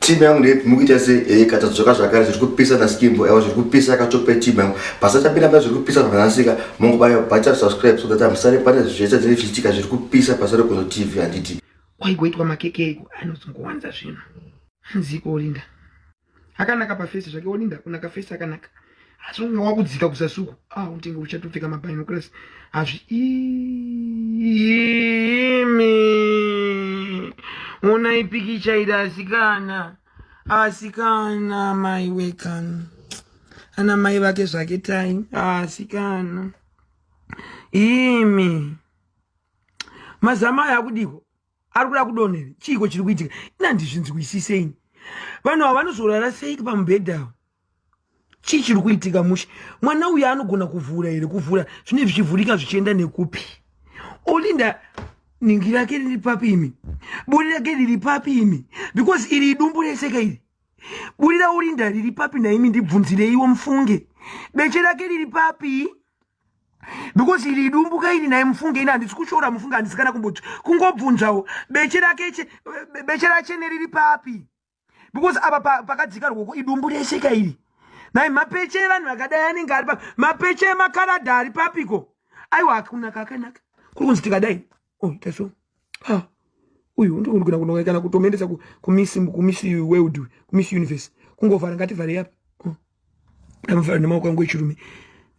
team yangu ndeipi mukuita sei ehe kata dzoka zvakare zviri kupisa naskimbo ewa zviri kupisa yakatope team yangu pasachapinda mba zviri kupisa zvakanasika mongobaya bhacha subscribe so that amusare pane zvese dzine zvichitika zviri kupisa pasare kuno tv handiti kwaigoitwa makeke iko anozongowanza zvinhu hanziko olinda akanaka pafesi zvake olinda kunaka fesi akanaka asi unge wakudzika kusasuku ah unenge uchatopfeka mabinoculars hazviimi onai pikicha iri asikana asikana mai wekani ana mai vake zvake tai asikana imi mazama aya akudiko ari kuda kudonhera chiiko chiri kuitika inandizvinzwisiseini vanhu ava vanozorara seiki pamubhedha avo chii chiri kuitika mushe mwana uyu anogona kuvhura here kuvhura zvinei zvichivhurika zvichienda nekupi olinda ningi rake riri papi imi buri rake riri papi imi because iri idumbu reseka iri buri raolinda riri papi naimi ndibvunzireiwo mufunge beche rake riri papi because iri idumbuka ini naye mufunge ini handisi kushora mufunge handisi kana kumboti kungobvunzawo beche rake beche rachene riri papi because apa pakadzika rwoko idumbu rese ka iri nai mapeche evanhu vakadai anenge ari papi mapeche emakaradha ari papiko aiwa hakuna kakanaka kuri kunzi tikadai oh that's all ah uyu undikundigona kunonga kana kutomuendesa kumiss kumiss world kumiss universe kungovhara ngativharei apa oh. ndamuvhara nemaoko angu echirume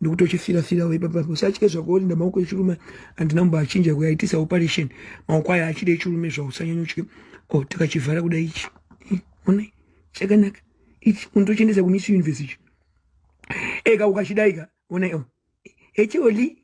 ndikutochifira fira we baba usatye zvako olinda maoko echirume andina mumba achinja kuya aitisa operation maoko aya achide echirume zvausanyanyotye o oh, takachivhara kuda ichi eh, ona chakanaka ichi unotochendesa kumiss universe ichi eka ukachidaika ona o oh. echioli